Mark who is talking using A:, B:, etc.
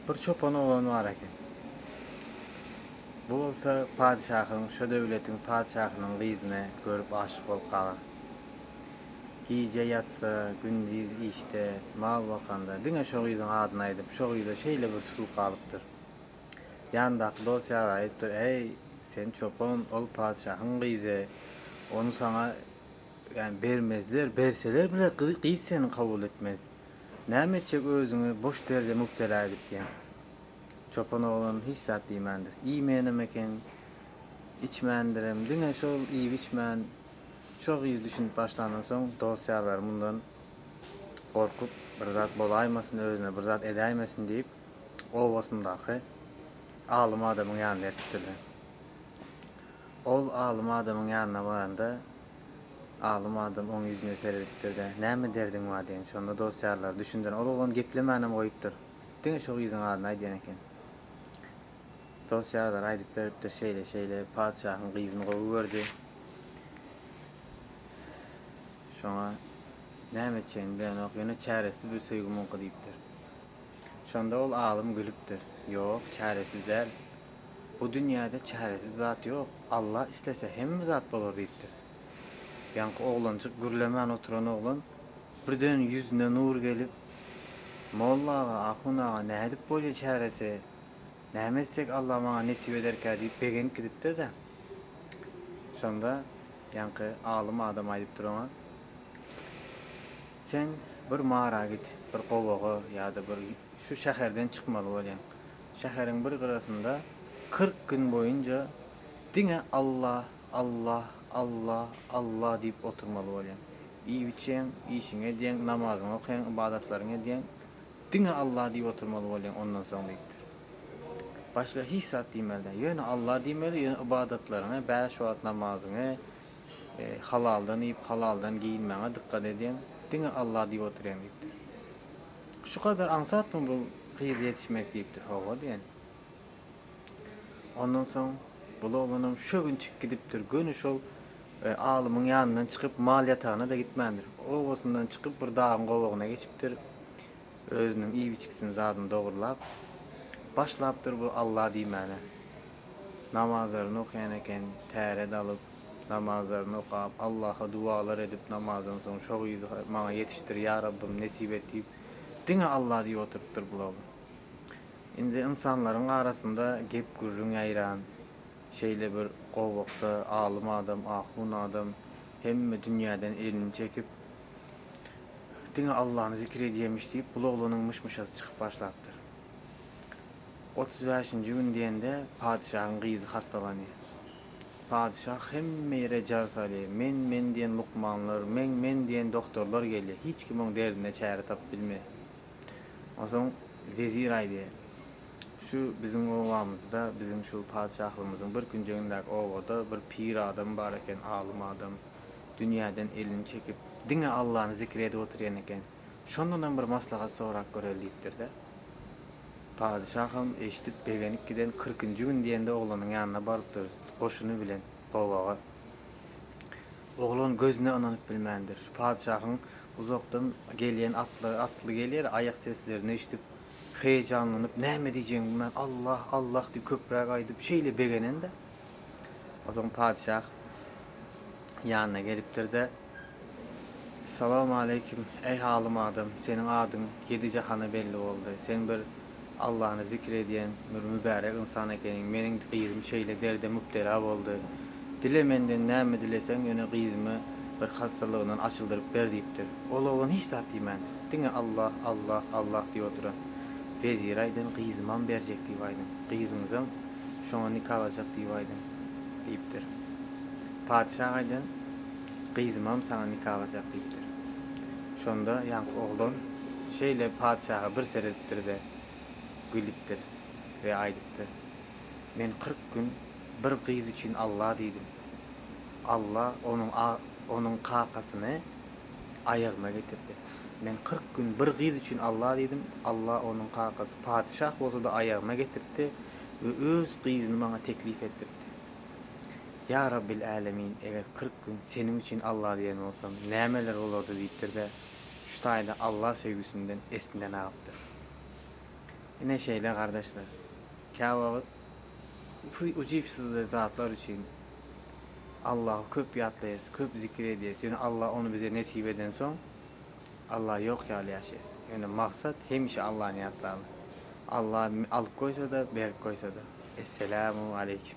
A: Bir çopan oglan bar eken. Bu bolsa padyşahyň, şo döwletiň padyşahynyň gyzyny görüp aşyk bolup galar. Gije ýatsa, gündiz işde, mal bakanda, diňe şo gyzyň adyny aýdyp, şo gyza şeýle bir tutulyp galypdyr. Ýanyndaky dost-ýary aýdypdyr, Äý, sen çopan, ol padyşahyň gyzy, ony saňa, ýagny, bermezler, berseler bile, gyz seni kabul etmez. Näme etjek özüňi boş derde mübtela edip diýen. Çopan oglan hiç zat diýmändir. Iýmänem eken, içmändirem. Diňe şol iýip-içmän, şo gyz düşünip başlandan soň dost-ýarlary mundan gorkup, bir zat bolaýmasyn, özüne bir zat edäýmesin diýip, obasyndaky alym adamyň ýanyna ertipdirler. Ol alym adamyň ýanyna baranda, Alym adam oň ýüzüne seredipdir-de, Näme derdiň bar? diýen. Şonda dost-ýarlary düşündiren. Ol oglan geplemänem goýupdyr. Diňe şo gyzyň adyny aýdýan eken. Dost-ýarlary aýdyp beripdir, Şeýle-şeýle, patyşahyň gyzyny gowy gördi. Şoňa näme etjegini bilenok. Ýöne çäresiz bir söýgi muňky diýipdir. Şonda ol alym gülüpdir. Ýok, çäresiz däl. Bu dünýäde çäresiz zat ýok. Alla islese, hemme zat bolar diýipdir. Ýaňky oglanjyk gürlemän oturan oglan birden ýüzüne nur gelip, Molla aga, ahun aga, nädip bolýa çäresi? Näme etsek Alla maňa nesip ederkä diýip begenip gidipdir-dä. Şonda ýaňky alym adam aýdypdyr oňa. Sen bir mara git, bir gowaga ýa-da bir şu şäherden çykmaly bolýaň. Şäheriň bir gyrasynda kyrk gün boýunça diňe Alla, Alla, Alla, Alla diýip oturmaly bolýaň. Iýip-içýäň, işiňi edýäň, namazyňy okaýaň, ybadatlaryňy edýäň, diňe Alla diýip oturmaly bolýaň ondan soň diýipdir. Başga hiç zat diýmeli däl. Ýöne Alla diýmeli, ýöne ybadatlaryňy, bäş wagt namazyňy, Halaldan iýip, halaldan geýinmäňe dykgat edýäň, diňe Allah diýip otyrýaň diýipdir. Şu kadar aňsatmy bu gyz ýetişmek diýipdir. Hawa diýen. Ondan soň bul oglanam şögünçik gidipdir. Göni şol alymyň ýanyndan çykyp mal ýatagyna-da gitmändir. Obasyndan çykyp bir dagyň gowagyna geçipdir. Özüniň iýip-içgisini zadyny dogrulap, başlapdyr bu Allah diýmäne. Namazlaryny okaýan eken, täret alyp, namazlaryny okap, Allaha dualar edip, namazdan soň şo gyzy maňa ýetişdir, ýa Rabbym, nesip et diýip, diňe Alla diýip oturypdyr bul oglan. Indi ynsanlaryň arasynda gep-gürrüň ýaýran, şeýle bir gowakda alym adam, ahun adam hemme dünýäden elini çekip, diňe Allany zikir edýämiş diýip, bul oglanyň myş-myşasy çykyp başlapdyr. Otuz bäşinji gün diýende, patyşahyň gyzy hassalanýar. Patyşa hemme ýere jar salýar. Men, men diýen lukmanlar, men, men diýen doktorlar gelýär. Hiç kim oň derdine çäre tapyp bilmeýär. Onsoň wezir aýdýar, Şu biziň obamyzda, biziň şu patyşahlygymyzyň bir künjegindäki obada bir pir adam bar eken, alym adam. Dünýäden elini çekip, diňe Allany zikir edip otyrýan eken. Şondanam bir maslahat sorap göreli diýipdir-de. Padyşaham eşidip, begenip giden kyrkynjy gün diýende oglanyň ýanyna barypdyr goşuny bilen gowaga. Oglan gözüne ynanyp bilmändir. Padyşahyň uzakdan gelýän atlary atly gelýär, aýak seslerini eşidip, heýejanlanyp, näme diýjegini bilmän, Allah, Allah diýip köpräk aýdyp, şeýle begenen-de. Onsoň padyşah ýanyna gelipdir-de. Salam aleýkim, eý halym adam, seniň adyň ýedi jahana belli boldy, sen bir Allany zikir edýän bir mübärek ynsan ekeniň, meniň gyzym şeýle derde mübtela boldy, dile menden näme dileseň, ýöne gyzymy bir hassalygyndan açyldyryp ber diýipdir, ol oglan hiç zat diýmän, diňe Allah, Allah, Allah diýip oturan, wezire aýdyn, gyzymam berjek diýip aýdyn, gyzyňyzam şoňa nikalajak diýip aýdyn diýipdir, patyşa aýdyn. gyzymam saňa nika aljak diýipdir. Şonda ýaňky oglan şeýle patyşaha bir seredipdir-de, gülüpdir we aýdypdyr, Men kyrk gün bir gyz üçin Alla diýdim. Alla onuň onuň kakasyny aýagyma getirdi. Men kyrk gün bir gyz üçin Alla diýdim, Alla onuň kakasy patyşah bolsa-da aýagyma getirtdi we öz gyzyny maňa teklip etdirtdi. Ýa Rabbil Älemin, eger kyrk gün Seniň üçin Alla diýen bolsam, nämeler bolardy diýipdir-de, şu taýda Alla söýgüsinden esinden agypdyr. Ine şeýle, gardaşlar. Käwagt ukyujypsyzly zatlar üçin Allahy köp ýatlaýas, köp zikir edýäs, ýöne Alla ony bize nesip edensoň, Allah ýok ýaly ýaşaýas. Ýöne maksat hemişe Allany ýatlama. Allah alyp goýsada, berip goýsada. Esselamu aleýkim.